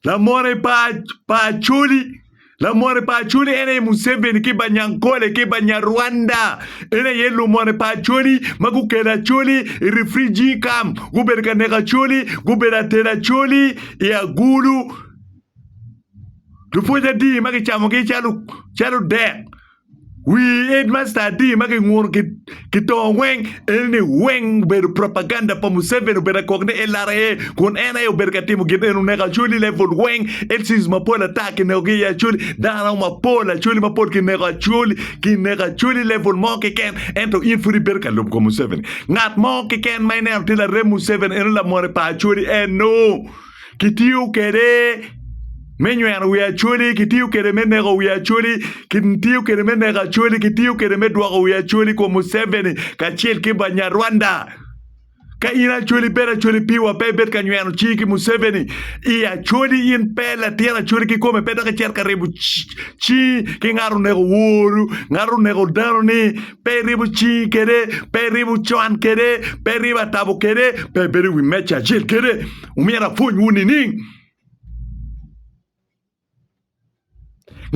Lamote pa pa Acholi Lamote pa Acholi en aye Museveni ki Banyankole ki Banyarwanda. En aye lumote pa Acholi ma gukelo Acholi i refugee camp. Gubedo ka neko Acholi, gubedo atero Acholi i agulu. Lupwony adi ma kicamogi calo calo dek. Wi Headmaster adi ma ginguno ki tongo weng eni ni weng obedo propaganda pa Museveni obedo akok ni LRA kun en aye obedo ka timo gin eni oneko Acholi level weng LCs mapol ata kinekogi i Acholi dano mapol Acholi mapol kineko Acholi kineko Acholi level mo keken ento in pud ibedo ka lubo kom Museveni ngat mo keken ma ineno tye larem Museveni eno lamone pa Acholi eno kitiyo kwede me nyweno wi Acholi, kitiyo kwede me neko wi Acholi, kitiyo kwede me neko Acholi, kitiyo kwede me dwoko wi Acholi kuom Museveni kacel ki Banyarwanda. Ka in Acholi bed Acholi piwa pe ibed ka nyweno cingi ki Museveni i Acholi in pe latin Acholi kikome pe dok icito ka ribo cingi ki ngat oneko woru, ngat oneko danoni, pe iribo cingi kwede, pe iribo cwan kwede, pe iribo atabo kwede, pe ibedo i wi meja acel kwede. Omyero apwonywu nining?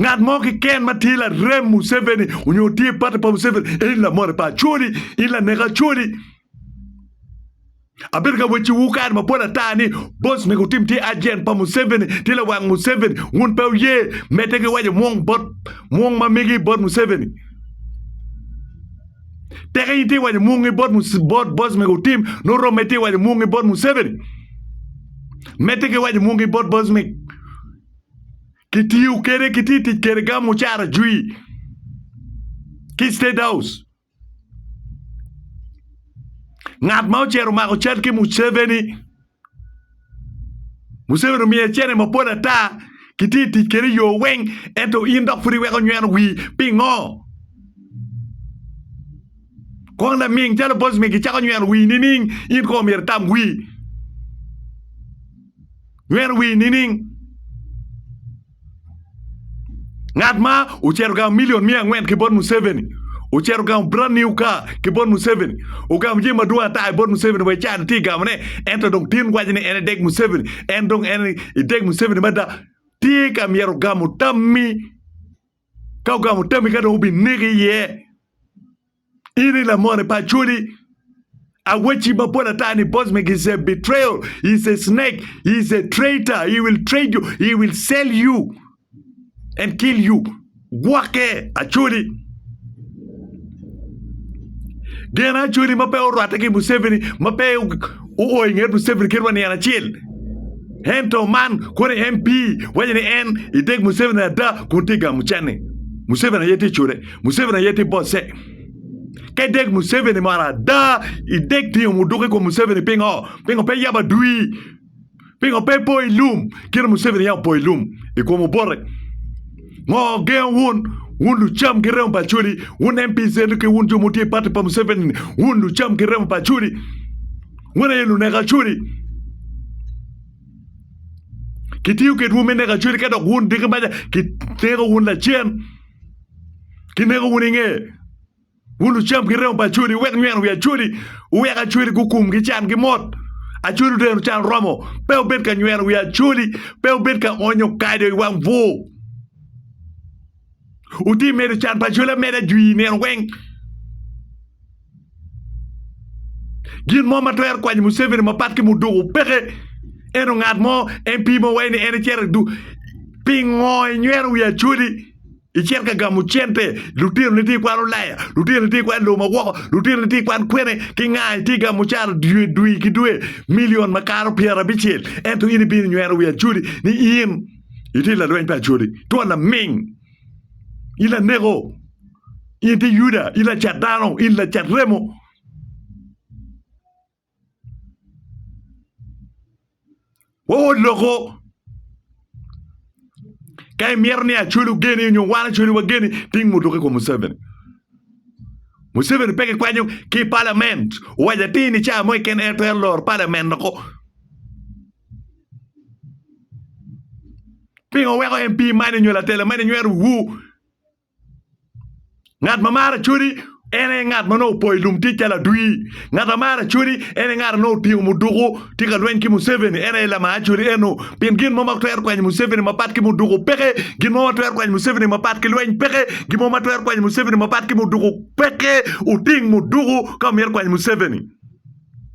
Ngat mo kiken ma tye larem Museveni onyo tye pati pa Museveni, in lamote pa Acholi, in lanek Acholi. Abedo ka wecciwu kare mapol ata ni bos mego tim tye ajent pa Museveni, tye lawang Museveni. Wun pe wuye medde ki waco mwong bot mwong ma migi bot Museveni. Tek in itye waco mungi bot bot boss mego otim nongo romme itye waco mungi bot Museveni. Medde ki waco mungi bot boss meg. Kitiyo kede kiti tic kede gam mucara jwi ki State House. Ngat ma ocero mako cal ki Museveni Museveni omiye cene mapol ata kitye tic kede i yoo weng ento in dok pud iweko nyweno wii pingo? Kong laming calo Bosmy gicako nyweno wii nining in kong myero itam wii nyweno wii nining? Ngat ma ocito ogamo milion miya angwen ki bot Museveni, ocito ogamo brand new car ki bot Museveni, ogamo jami madwong ata i bot Museveni wa i cawa-ni tye ka gamone, ento dong tin waco ni en edek Museveni, en dong en edek Museveni mada, tye ka myero ogamo tammi, ka ogamo tammi ka dong obineki iye. In i lamone pa acholi. Awacci mapol ata ni Bosmik is a betrayal, is a snake, is a traitor. He will trade you, he will sell you and kill you. Gwokke acholi. Gen acholi ma pe orwatte ki Museveni, ma pe oo i nget Museveni kit wa nian acel. Ento man kono MP waco ni en ideg Museveni ada kun tye gamo canni. Museveni aye tye cule. Museveni aye tye bosse. Ka idek Museveni mo arada, idek tingo muduka i kom Museveni pingo? Pingo pe yabo adwi? Pingo pe po i lum kit Museveni yam opo i lum i kom Obote? Ngo gengo wun? Wun lucam ki remo pa Acholi, wun MPs ento ki wun jo ma wutye i pati pa Museveni ni, wun lucam ki remo pa Acholi. Wun aye luneko Acholi. Kitiyo kedwu me neko Acholi ka dok wun diki maca kineko wun lacen. Kineko wun inge, wun lucam ki remo pa Acholi, wuwek nyweno wi Acholi, wuwek Acholi gukum ki can ki mot. Acholi otero can oromo, pe wubed ka nyweno wi Acholi, pe wubed ka onyo kado i wang bwur. Wuti medo can pa Acholi ameda jwi i nino weng. Gin mo ma twero kwanyo Museveni mapat ki Muduku peke. Ento ngat mo en pimo wai ni en icito idu pingo inywero wi acoli icito ka gamo cente, lutinoni tye ikwan olaya, lutinoni tye ikwan loma woko, lutinoni tye ikwan kwene ki nga itye gamo ocara dwe dwe ki dwe million makato pyerabicel ento in ibino inywero wi acoli ni in itye lalweny pa acoli. Twon laming. In laneko, in tye Yuda, in lacat dano, in lacat remo. Wawot loko. Ka imyero ni acweli ogeni nyo wan acweli wageni, ting mutoki kom Museveni. Museveni pe kikwanyo ki palament. Owaco atir ni caa mo iken en twero loro palament loko. Pingo weko MP mani nyo latela mani nyweto wu? Ngat ma maro acodi en aye ngat ma nongo opo i lum tic calo adwir. Ngat ma maro acodi en aye ngat ma nongo otingo muduku tye ka lweny ki Museveni en aye lamar acodi eno. Pien gin mo ma twero kwanyo Museveni mapat ki muduku peke. Gin mo ma twero kwanyo Museveni mapat ki lweny peke. Gin mo ma twero kwanyo Museveni mapat ki muduku peke. Wuting muduku ka wumito kwanyo Museveni.